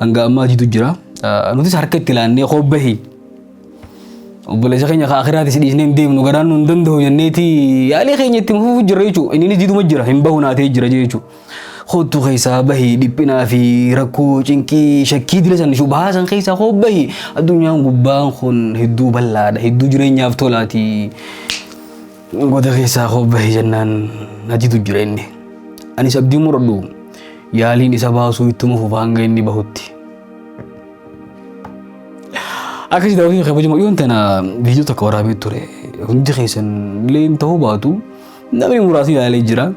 hanga ammaatiitu jira. Nutis harka itti laannee koo bahi. Obboleessa keenya ka akiraatis dhiisnee hin deemnu garaan nu hin danda'u jenneeti yaalii keenya itti fufuu jirra jechuudha. Inninis diduma jira hin bahu naatee jira jechuudha. Kottu keessaa bahi dhiphinaa fi rakkoo cinqii shakkii dila san shubahaa san keessaa koo bahi. Addunyaan gubbaan kun hedduu bal'aadha hedduu jireenyaaf tolaati. Goda keessaa koo bahe jennaan natitu jira inni. Anis abdii muradhu yaaliin isa baasuu ittuma fufa hanga inni bahutti. Akkasii daawwatee kabajamoo dhiyoon tana viidiyoo tokko waraabee ture. Hundi keessan illee hin ta'uu baatu namni muraasni ilaalee jira.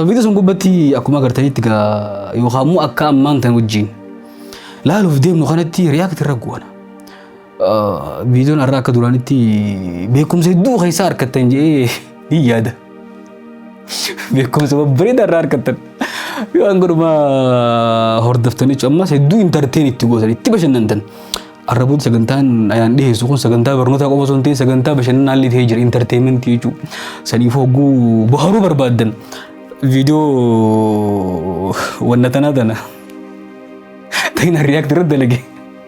Viidiyoo sun gubbatti akkuma agartanitti gaa yookaan immoo akka ammaan tan wajjin laaluuf deemnu kanatti riyaakti irra goona. Viidiyoon har'a akka duraanitti beekumsa hedduu keessaa harkattan jedhee ni yaada. Beekumsa babbareedaa irraa harkattan. Yoo waan godhuma hordoftanii jechuun ammas hedduu intarteen itti gootan itti bashannantan. Arraboota sagantaan ayaan dhiyeessu kun sagantaa barnootaa qofa osoo hin ta'in sagantaa bashannanaa illee ta'ee jira intarteementii jechuudha. Saniif hogguu baharuu barbaaddan viidiyoo wanna tanaa tana. Ta'in riyaakti irratti dalage.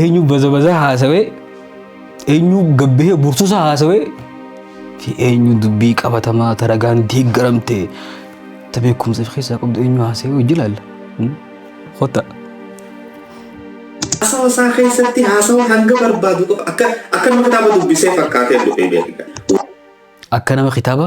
eenyu baza baza haasawee eenyu gabbahee bursusa haasawee fi eenyu dubbii qabatamaa taragaan deeggaramte ta beekumsa fi keessaa qabdu eenyu haasawee hojii laalla. Hota. Haasawaa isaa keessatti haasawaa hanga barbaadu qofa akka akka nama kitaaba dubbisee fakkaatee dhufee beekaa. Akka nama kitaaba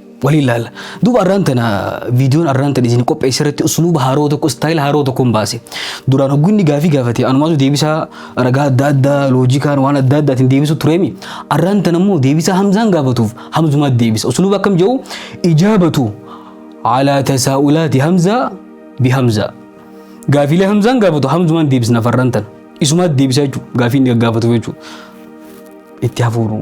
waliin laalla. Duuba arraan tana viidiyoon arraan tana isin qopheesse irratti usluuba haaroo tokko istaayila haaroo tokkoon baase. Duraan hogguu inni gaafii gaafate anumaatu deebisaa ragaa adda addaa loojikaan waan adda addaatiin deebisu tureemi. Arraan tana immoo deebisaa hamzaan gaafatuuf hamzumaatti deebisa. Usluuba akkam jedhu ijaabatu alaa tasaa'ulaati hamzaa bi hamzaa. Gaafiilee hamzaan gaafatu hamzumaan deebisna farraan tana. Isumaatti deebisaa jechuudha gaafiin gaggaafatu jechuudha. itti hafuuru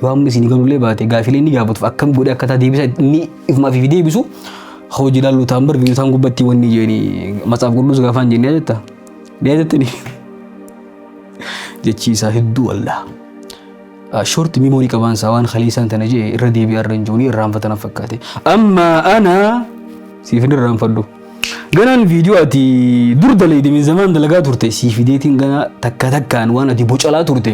yoo amma isin galullee baate gaafilee ni gaafatuuf akkam godhe akka taa deebisa ni ifumaaf fi deebisu hojii laallu taan bar biyyootaan gubbatti wanni jeeni matsaaf qulluus gaafaan jennee jetta deetettini jechii isaa hedduu allaa short memory qabaan isaa waan kaleessaan tana jee irra deebi'aa irra hin jiru irraanfatan fakkaate amma ana siif hin irraanfadhu ganaan viidiyoo ati dur daleedimiin zamaan dalagaa turte sii fideetiin ganaa takka takkaan waan ati bocalaa turte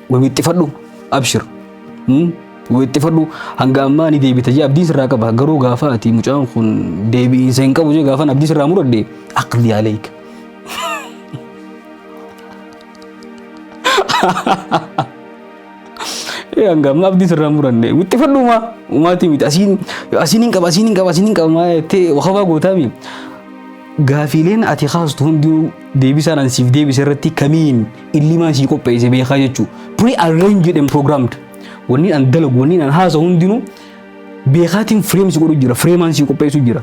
Wawixxifadhu abshir. Wawixxifadhu hanga ammaa ni deebita jee abdiin sirraa qaba garuu gaafa ati mucaan kun deebi'iinsa hin qabu jee gaafan abdii sirraa muradhe aqli aleeyka. Hanga ammaa abdii sirraa muranne wixxifadhu umaa umaatii miti asiin asiin hin qaba asiin hin qaba asiin hin qaba maa jettee wakabaa gootaa miti. Gaafiileen ati kaastu hundinuu deebisaan an siif deebise irratti kamiin illimaa isii qopheesse beekaa jechuu pre arranged and programmed wanni an dalagu wanni an haasa hundinuu beekaatiin frame si godhu jira frame an si qopheessu jira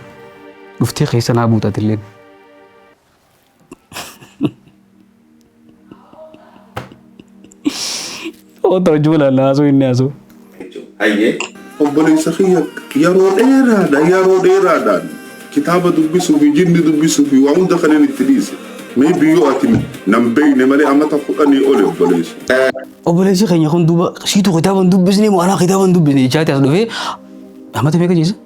dhuftee keessa naa buutatilleen. Oota hojii walaalaa haasoo inni haasoo. Hayyee. Obboleessa kiyya yeroo dheeraadha yeroo dheeraadhaan kitaaba dubbisuu fi jinni dubbisuu fi waa hunda kanneen itti dhiise. Mee biyyoo ati nan beeyne malee amata kudhanii oli obboleessa. Obboleessi keenya kun duuba siitu kitaaba hin dubbisne moo anaa kitaaba hin dubbisne jechaati as dhufee amata meeqa jeessa?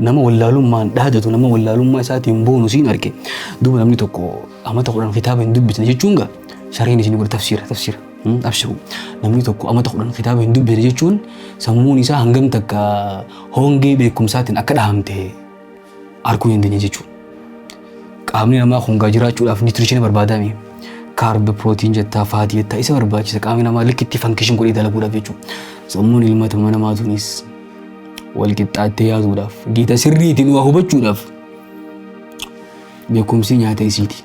Nama wallaalummaan dhaadatu, nama wallaalummaa isaatiin boonu siin arge. Duuba namni tokko amata kudhan kitaaba hin dubbisne jechuun gaa sareen isin godhe tafsiira tafsiira. Hmm, Abshiru namni tokko amata kudhan kitaaba hin dubbisne jechuun sammuun isaa hangam takka hongee beekumsaatiin akka dhahamte arguu hin dandeenye jechuudha. qaamni namaa kun gaa jiraachuudhaaf nitirishina barbaadame kaarb pirootiin jettaa faatii jettaa isa barbaachisa qaamni namaa likkitti fankishin godhee dalaguudhaaf jechuudha sammuun ilma namaa tunis wal qixxaattee yaasuudhaaf gita sirriitiin waa hubachuudhaaf beekumsi nyaata isiiti.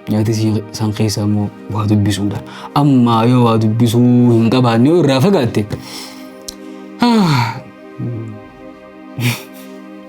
Nyaata isii san keessaa immoo waa dubbisuudha. Amma yoo waa dubbisuu hin qabaanne yoo irraa fagaatte ah,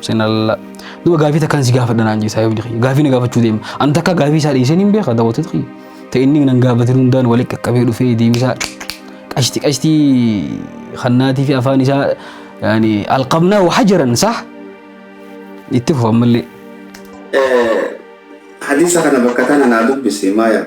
Sinalla. Duba gaafii takkaan si gaafadha naan jeesaa yoo jedhe gaafii na gaafachuu deema. An takka gaafii isaa dhiiseen hin beeka daawwatee ta'e. Ta'e inni nan gaafate hundaan waliin qaqqabee dhufee deebisaa qashti qashti kannaatii fi afaan isaa yaani alqabnaa wahajaran sah itti fufa ammallee. Hadiisa kana bakka tana naa dubbisi maaya.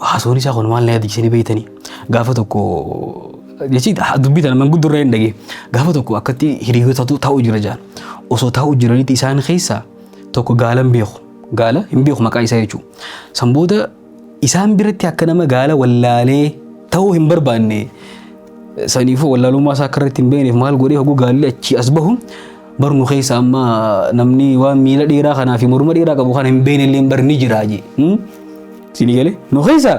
Haasoon isaa kun maal na yaadachiisanii beektanii gaafa tokko jechi dubbii tana manguddoo irraa hin dhagee gaafa tokko akkatti hiriyoota taa'u jira jaan osoo taa'u jiranitti isaan keessaa tokko gaala hin beeku gaala hin beeku maqaa isaa jechuudha. San booda isaan biratti akka nama gaala wallaalee ta'uu hin barbaanne saniifuu wallaalummaa isaa akka irratti hin beekneef maal godhee hoguu gaalli achii as bahu barnu keessa amma namni waan miila dheeraa kanaa fi morma dheeraa qabu kana hin beekne illee barni jira jee. Siinii galee nu keessaa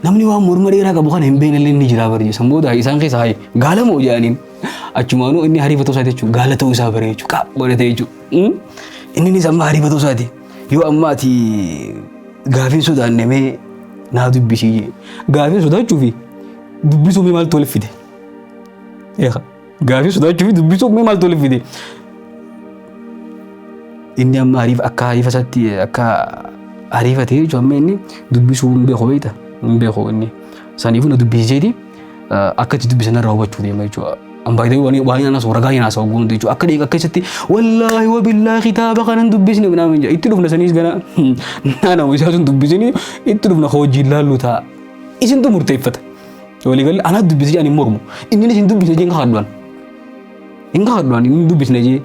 namni waan morma dheeraa qabu kana hin beekne illee ni jira barjee san booda isaan keessa haye gaala moo jedhaniin achumaanuu inni hariifa ta'uu isaati jechuudha gaala ta'uu isaa baree jechuudha qaab godhatee jechuudha inninis amma hariifa ta'uu isaati yoo amma ati gaafiin sodaanne mee naa dubbisii jee gaafiin sodaachuu fi dubbisuu mee maaltu wal fide. Eegaa. Gaafii sodaachuu fi dubbisuuf mee maaltu walitti fide? Inni amma hariif akka hariifa isaatti akka hariifa ta'e jechuun amma inni dubbisuu hin beeku beekta hin beeku inni saniifuu na dubbisiseeti akka itti dubbisan irraa hubachuu deema jechuudha. Ambaayitee waan waan nyaanna soora gaa'ii naasaa oguun jechuudha akka deeqa keessatti wallaahi wabillaahi kitaaba kana hin dubbisne minaan hin jedha itti dhufna saniis gana naanawuu isaa sun dubbisini itti dhufna hojiin laallu ta'a isintu murteeffata. Walii galee anaa dubbisi jedhan hin mormu. Inninis hin dubbisne jee hin kakadduan. Hin kakadduan hin dubbisne jee.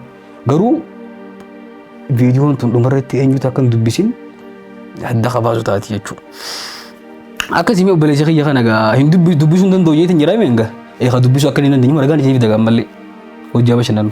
Garuu viidiyoon tun dhumarratti eenyutu akka hin dubbisin adda kabaasu taati jechuudha. Akkasii obboleessi kiyya kana gaa hin dubbisuu hin danda'u jeetiin jedhame egaa. Eegaa dubbisuu akka hin dandeenye margaan isiniif dagaan malee hojjaa bashannanu.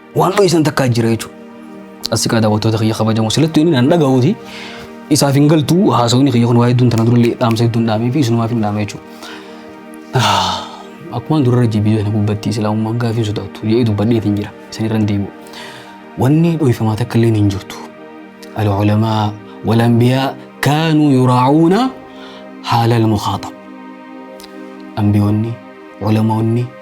Waan dho'isan takkaa jira jechuudha. Asii kana daawwattoota kiyya kabajamoo silattu inni nan dhaga'uuti. Isaaf hin galtu haasawni kiyya kun waa hedduun tana durallee dhaamsa hedduun dhaamee fi isinumaaf hin dhaame jechuudha. Akkuma durarra jibbii sana gubbatti islaamummaan gaafii sodaattu jedhee dubbadheeti hin jira. Isin irra hin deebi'u. Wanni dho'ifamaa takka illee hin jirtu. Al-ulamaa wal-anbiyaa kaanuu yuraacuuna haala al-mukhaaxab. Anbiyoonni, ulamaonni,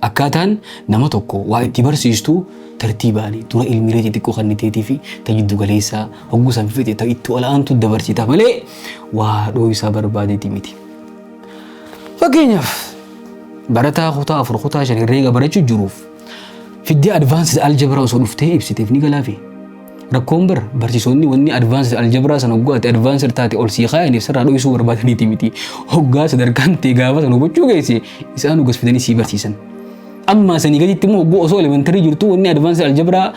Akkaataan nama tokko waa itti barsiistu tartiibaani. Dura ilmiilee xixiqqoo kanniteetiifi ta jiddu galeessaa hogguu san fixe ta itti ol aantu dabarsita malee waa dhooysaa barbaadeeti miti. Fakkeenyaaf barataa kutaa afur kutaa shan herreega barachuu jiruuf fiddee advanced algebra osoo dhuftee ibsiteef ni galaafii? Rakkoon bar barsiisonni wanni advanced algebra san hoggaa ati advanced taate ol sii kaayaniif sirraa dho'isuu barbaadaniiti miti. Hoggaa sadarkaan tee gaafa san hubachuu geesse isaanu gas fidanii sii barsiisan. Ammaa sanii gaditti immoo hogguu osoo elementary jirtu wanni advanced algebra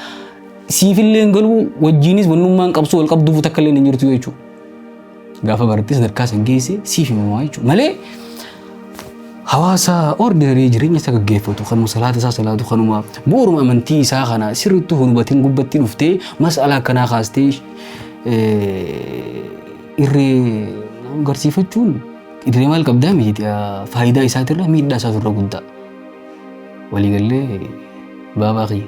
siifillee hin galuu wajjiinis wannummaan qabsoo wal qabduufu takka illee hin jirtu jechuudha. Gaafa barattee sadarkaa san geesse siif himamaa jechuudha. Malee hawaasa ordinary jireenya isa gaggeeffatu kanuma salaata isaa salaatu kanuma bu'uuruma amantii isaa kana sirriitti hubatiin gubbatti dhuftee mas'ala akkanaa kaastee irree garsiifachuun idilee maal qabdaa miti faayidaa isaatirra miidhaa isaa turre guddaa. Waliigallee baabaa kiyya.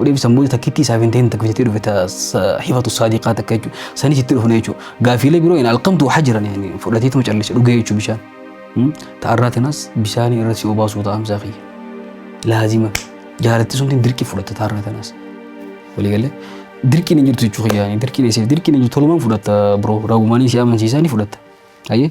Odeeffisa muuda takkittii isaaf hin ta'in takka jettee dhufe ta hifatu saadiqaa takka jechuudha. Sanis itti dhufne jechuudha. Gaafiilee biroo hin alqamtu waxaa jiran yaani fudhateetuma callise dhugee jechuudha bishaan. Ta'arraa tanaas bishaanii irra si obaasuu ta'amsaa kiyya. Laazima jaalattii suntiin dirqii fudhatta ta'arraa tanaas. Waliigalee dirqiin hin jirtu jechuudha kiyyaanii dirqiin eesseef dirqiin hin jirtu tolumaan fudhatta biroo ragumaanii si amansiisaa ni fudhatta. Ayyee.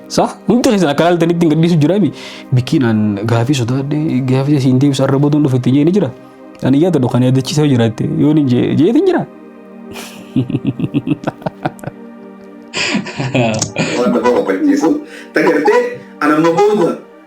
Sa hundi keessan akka laaltanitti hin gadhiisu jira mi bikkiin aan gaafii sodaadhe gaafii siin deebisa arra booduun dhufe itti jeeni jira ani yaada dhukan yaadachiisa jiraatte yoon hin jee jeetin jira. Waan nama kofalchiisu. Tagartee anamma booda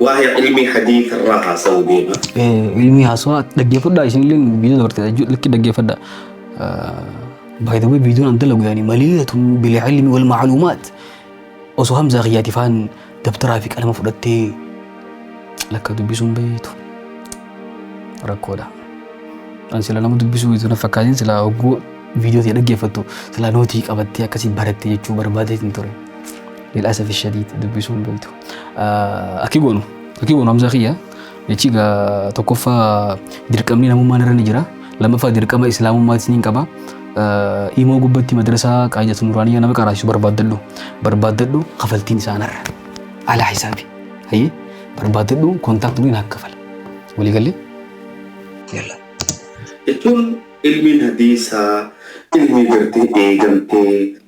Waa'ee ilmii hadiisa irraa haasa'uu deema. Ilmii haasawaa dhaggeeffadhaa isinillee viidiyoo dabartee jechuudha lakki dhaggeeffadhaa. By the way viidiyoon an dalagu yaani maliilatun bil ilmi wal macluumaat osoo hamzaa kiyyaati faan dabtaraa fi qalama fudhattee lakka dubbisuun bayeetu rakkoodha. An sila nama dubbisuu itti na fakkaatiin sila hogguu viidiyoo ta'e dhaggeeffattu sila nootii qabattee akkasii barattee jechuu barbaadee hin ture. Lil'aasaf ishadii dubbisuun bayeetu. Akki goonu akki goonu hamza kiyya jechi egaa tokkoffaa dirqamni namummaan irra ni jira lammaffaa dirqama islaamummaas ni qaba imoo gubbatti madrasaa qaayidatu nuraaniyaa nama qaraasisu barbaaddadhu barbaaddadhu kafaltiin isaanarra alaa hisaabi hayyee barbaaddadhu kontaakt nuyi naaf kafala walii gallee yalla jechuun ilmiin hadiisaa ilmii gartee eegamtee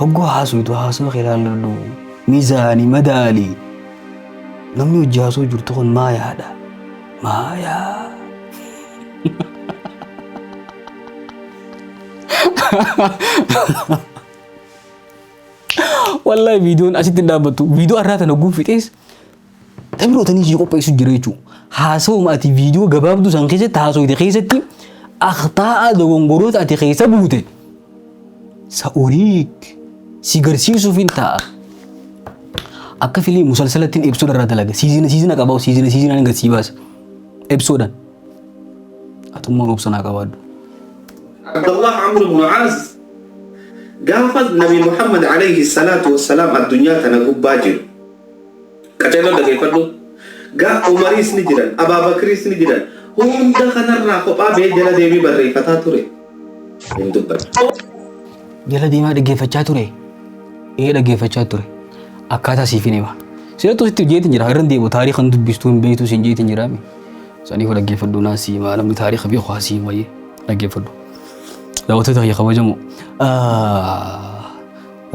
Hogguu haasuytu haasoo kee ilaalladhu. Mizaani madaali. Namni hojii haasoo jirtu kun maa yaada? Maa yaa. Wallahi viidiyoon asitti hin dhaabbattu. Viidiyoo har'aa tana guun fixees Tamirootanii ishii qopheessu jira jechuudha. Haasawuma ati viidiyoo gabaabduu san keessatti haasawite keessatti akhtaa'a dogongoroota ati keessa buute sa'uriik si garsiisuuf hin ta'a. Akka filii musalsalattiin episooda irraa dalaga. Siizina siizina qabaa'u siizina siizinaan gad sii baasa. Episoodan. Atummaan obsanaa qabaadhu. Abdullah Amr ibn Aas gaafa Nabi Muhammad alayhi salaatu wassalaam addunyaa tana gubbaa jiru Qaceeloo dhageeffadhu. Ga Umariis ni jiran, Abaa Bakriis ni jiran. Hunda kanarraa kophaa ba'ee jala deemee barreeffataa ture. Hin dubbanne. Jala deemaa dhaggeeffachaa ture. Ee dhaggeeffachaa ture. Akkaataa siif hin hima. Seetu sitti jeetiin jira. Irra deemu taariikh kan dubbistu hin beektu siin jeetiin jira. Saniif dhaggeeffadhu naa sii maa namni taariikh beeku haa sii wayii dhaggeeffadhu. Daawwattoota kiyya kabajamoo.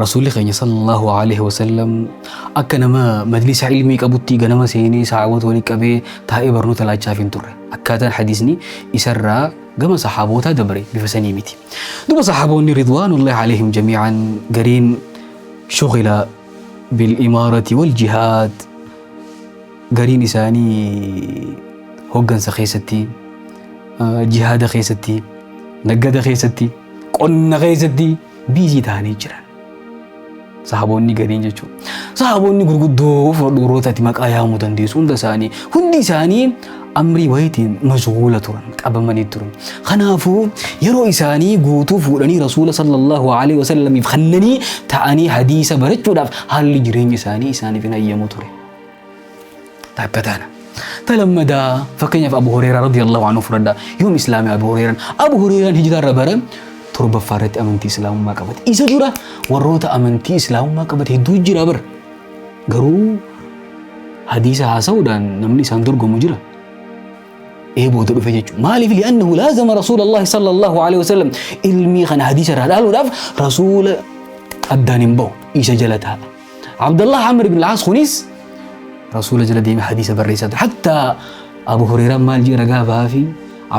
Rasuulli keenya sallallahu alaihi wasallam akka nama majlisa ilmii qabutti ganama seenee sahaabota walitti qabee taa'ee barnoota laachaaf hin turre. Akkaataan hadiisni isarraa gama sahaabootaa dabre bifa sanii miti. Duba sahaaboonni ridwaanullahi alaihim jamii'an gariin shughila bil imaarati wal jihaad gariin isaanii hoggansa keessatti jihaada keessatti naggada keessatti qonna keessatti biizii ta'anii jiran. Sahaboonni gariin jechuudha. Sahaboonni gurguddoo fudhadhu warroota ati maqaa yaamuu dandeessu hunda isaanii hundi isaanii amrii wayitiin mashguula turan qabamanii turan. Kanaafuu yeroo isaanii guutuu fuudhanii rasuula sallallahu alaihi wasallamiif kennanii ta'anii hadiisa barachuudhaaf haalli jireenya isaanii isaaniif hin hayyamu ture. takka taana. Ta lammadaa fakkeenyaaf Abu Hureyraa radiyallahu anhu fudhadha. Yoom Islaamii Abu Hureyraan? Abu Hureyraan hijiraa irra bara torbaffaa irratti amantii Islaamummaa qabate. Isa dura warroota amantii Islaamummaa qabate hedduu jira bara. Garuu hadiisa haasa'uudhaan namni isaan dorgomu jira. ee booda dhufe jechuudha. Maaliif li'annahu laazama rasuulallahi sallallahu alaihi wasallam ilmii kana hadiisa irraa dhaaluudhaaf rasuula addaan hin bahu isa jala taa'a. Abdallah Amr ibn al-As kunis rasuula jala deeme hadiisa barreessaa ture. Hatta Abu Hurairaan maal jee ragaa bahaa fi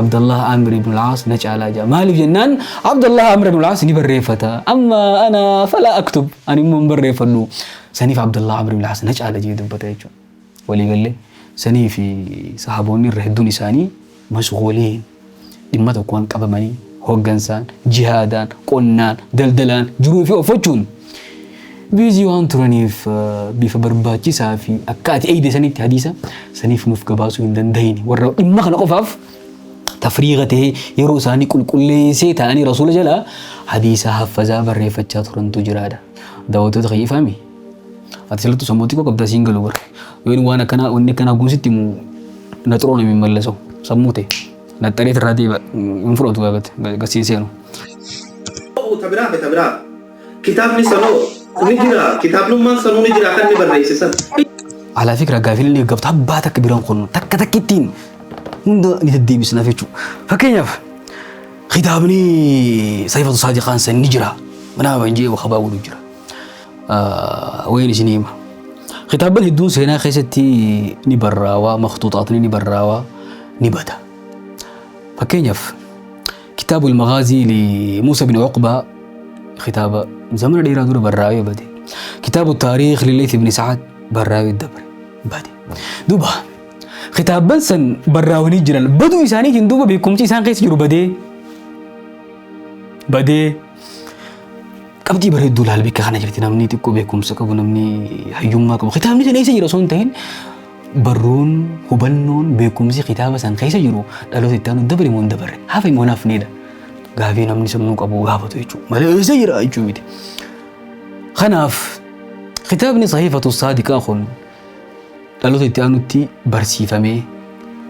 Abdallah Amr ibn al-As na caalaa jaa. Maaliif jennaan Abdallah Amr ibn al-As ni barreeffata. Amma ana falaa aktub ani immoo hin barreeffadhu. Saniif Abdallah Amr ibn al-As na caala jee dubbata jechuudha. walii galle. Sanii fi sahaaboonni irra hedduun isaanii mashguuliin, dhimma tokkoon qabamanii, hooggansaan, jihaadaan, qonnaan, daldalaan, jiruu fi offachuun biizii waan turaniif bifa barbaachisaa fi akka ati eeyde sanitti hadiisa saniif nuuf gabaasuu hin dandahine. Warra dhimma kana qofaaf tafriiga ta'ee yeroo isaanii qulqulleessee taa'anii rasuula jalaa hadiisa haffazaa barreeffachaa turantu jiraadha. Daawwattoota kiyya ifaami. Ati salatu sammuu xiqqoo qabda siin galu bara. Yoon waan akkanaa wanni akkanaa kun sitti immoo na xuroo namiin mallaso sammuu ta'e. Na xaree irraa deeba hin fudhatu gaafate gasiin seenu. ta'u ta biraa fi ta biraa kitaabni sanoo ni jira kitaabnummaan sanuu ni jira kan ni barreessisan Alaa fi ragaa fi illee gabta abbaa takka biraan qonnu takka takka ittiin hunda ni deddeebisnaaf jechuudha. Fakkeenyaaf kitaabni Saifatu Saadiqaan san ni jira. Mana Amanjee Wakabaa godhu jira. wayin isin hima. Kitaabban hedduun seenaa keessatti ni barraawaa, maktuuxaatni ni barraawaa, ni bada. Fakkeenyaaf kitaabu ilmagaazii li Muusa bin Uqbaa kitaaba zamana dheeraa dura barraawee bade. Kitaabu taariikh li Leethi bin Sa'ad barraawee dabre bade. Duuba kitaabban san barraawanii jiran baduu isaaniitiin duuba beekumsi isaan keessa jiru badee badee Qabxii bareedduu laal bakka kana jirti namni xiqqoo beekumsa qabu namni hayyummaa qabu kitaabni sana eessa jira osoo hin ta'in barruun hubannoon beekumsi kitaaba san keessa jiru dhaloota itti aanu dabre moo hin dabarre hafe moo hin hafneedha gaafii namni sammuu qabu gaafatu jechuudha malee eessa jira jechuu miti. Kanaaf kitaabni sahiifatu saadiqaa kun Dhaloota itti aanutti barsiifamee,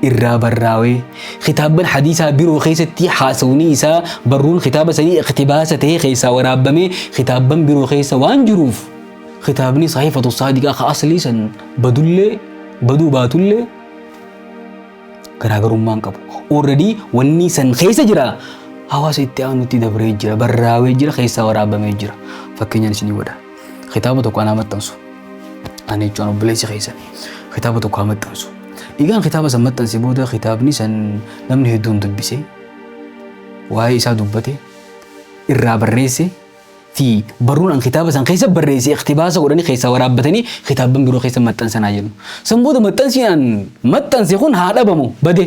irraa barraawee, kitaabban hadiisaa biroo keessatti haasawni isaa barruun kitaaba sanii iqtibaasa ta'ee keessaa waraabbamee kitaabban biroo keessa waan jiruuf kitaabni sahiifatu saadiqaa ka aslii san badullee baduu baatullee garaagarummaan qabu. Already wanni san keessa jira hawaasa itti aanutti dabree jira barraawee jira keessaa waraabamee jira fakkeenyaan isinii godha. Kitaaba tokko anaa maxxansu. Ani jechuun obboleessi keessan kitaaba tokko haa maxxansu. Egaan kitaaba san maxxanse booda kitaabni san namni hedduun dubbise waa'ee isaa dubbate irraa barreesse fi barruun an kitaaba san keessa barreesse iktibaasa godhanii keessaa waraabbatanii kitaabban biroo keessa maxxansanaa jedhu. San booda maxxansi an maxxanse kun haa dhabamu bade.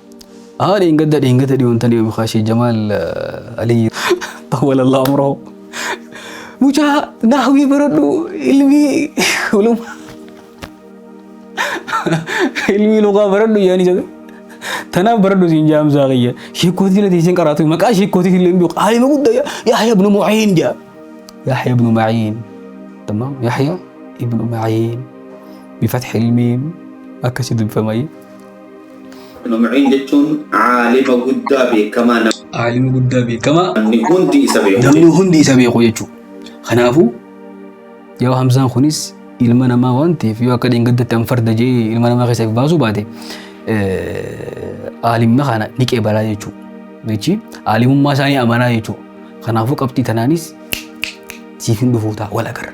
Haa dheengadda dheengata dhiyoon tan dhiyoon kaashee Jamaal Aliyyi. Xawwala Allah umrahu. Mucaa naahwii baradhu ilmii uluma. Ilmii luqaa baradhu yaani jedhe. Tanaaf baradhu siin jaamsaa kiyya. Sheekkootii illee teesseen qaraatu maqaa sheekkootii illee hin beeku. Aalima guddaa Yahya ibnu Mu'iin jedha. Yahya ibnu Mu'iin. Tamam Yahya ibnu Mu'iin. Bifatxi ilmiin akkasitti dubbifama. Ibnu Ma'iin jechuun aalima guddaa beekamaa nama. Aalima guddaa beekamaa. Namni hundi isa beeku. Namni hundi isa beeku jechuudha. Kanaafuu yoo hamzaan kunis ilma namaa waan ta'eef yoo akka dheengaddatti an farda jee ilma namaa keessa baasuu baate aalimma kana ni qeebalaa jechuudha. Jechi aalimummaa isaanii amanaa jechuudha. Kanaafuu qabxii tanaanis siif hin dhufu ta'a wal agarra.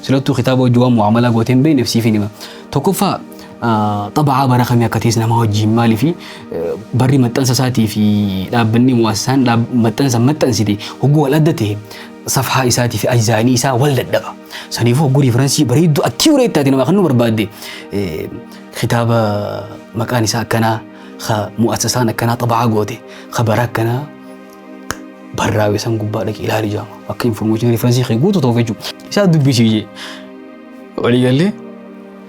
Silattuu kitaaba hojii waan mu'aamalaa gootee hin beekneef siif hin hima. Tokkoffaa xaba'aa bara kamii akka ta'es nama wajjin maalii fi barri maxxansa isaatii fi dhaabbanni mu'assaan maxxansa maxxansite hogguu wal adda ta'e safhaa isaatii fi ajzaanii isaa wal dadhaba. Saniifuu hogguu riiferansii bareedduu akkiiwuree itti nama kan nu barbaadde kitaaba maqaan isaa akkanaa mu'assasaan akkanaa xaba'aa goote bara akkanaa barraa'e san gubbaa dhaqee ilaali jaama. Akka information reference kee guutu ta'uuf jechuudha. Isaa dubbisii jee. Walii gallee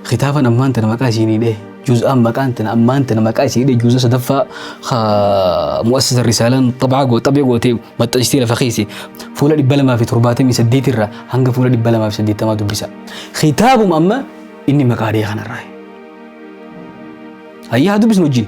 kitaabaan ammaan tana maqaa isiinii dhee. Juz'aan maqaan tana ammaan tana maqaa isiinii dhee juz'a sadaffaa mu'assisa risaalaan xabaa goo xabee gootee maxxansitee lafa keesse fuula dhibba lamaa fi torbaatamii saddeet irraa hanga fuula dhibba lamaa fi saddeettamaa dubbisa. Kitaabuma amma inni maqaa dhee kanarraa. Hayyaa haa dubbisnu wajjin.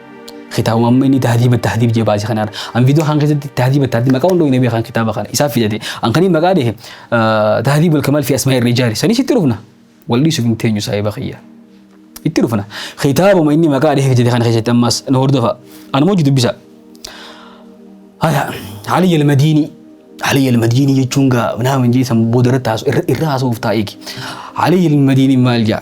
Kitaabuma amma inni tahdiiba tahdiib jee baase kanaan an viidiyoo kan keessatti tahdiiba tahdiib maqaa hundoo hin beekan kitaaba kana isaaf fidate an kaniin maqaa dhehe tahdiib wal kamal fi asmaa irra ijaari sanis itti dhufna wal dhiisuuf hin teenyu saahiba kiyya itti dhufna kitaabuma inni maqaa dhehe fidate kana keessatti ammas na hordofa an hojii dubbisa haya Ali al-Madini Ali al-Madini jechuun gaa nama hin jeesan booda irratti haasu irra haasuuf taa'eeki Ali al-Madini maal jaa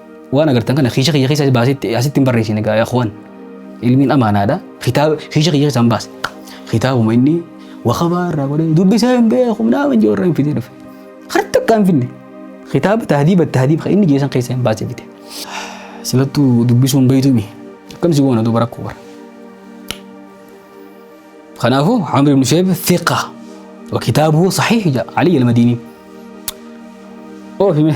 Waan agartan kana kiisha kiyya keessa baasee asitti hin barreessine gaa yakhwan. Ilmiin amaanaadha. Kitaaba kiisha kiyya keessaan baase. Kitaabuma inni wakabaa irraa godhee dubbisee hin beeku naama hin joorra hin fidee dhufe. Har takka hin finne. Kitaaba tahdiiba tahdiiba inni jeesan keessa hin baase fide. Silattuu dubbisuun beeytumi. Akkam si goona duuba rakkoo bara. Kanaafuu Amr ibn Shu'ayb thiqa wa kitaabuhu sahiih ja'a Ali al-Madini. Oofi mee.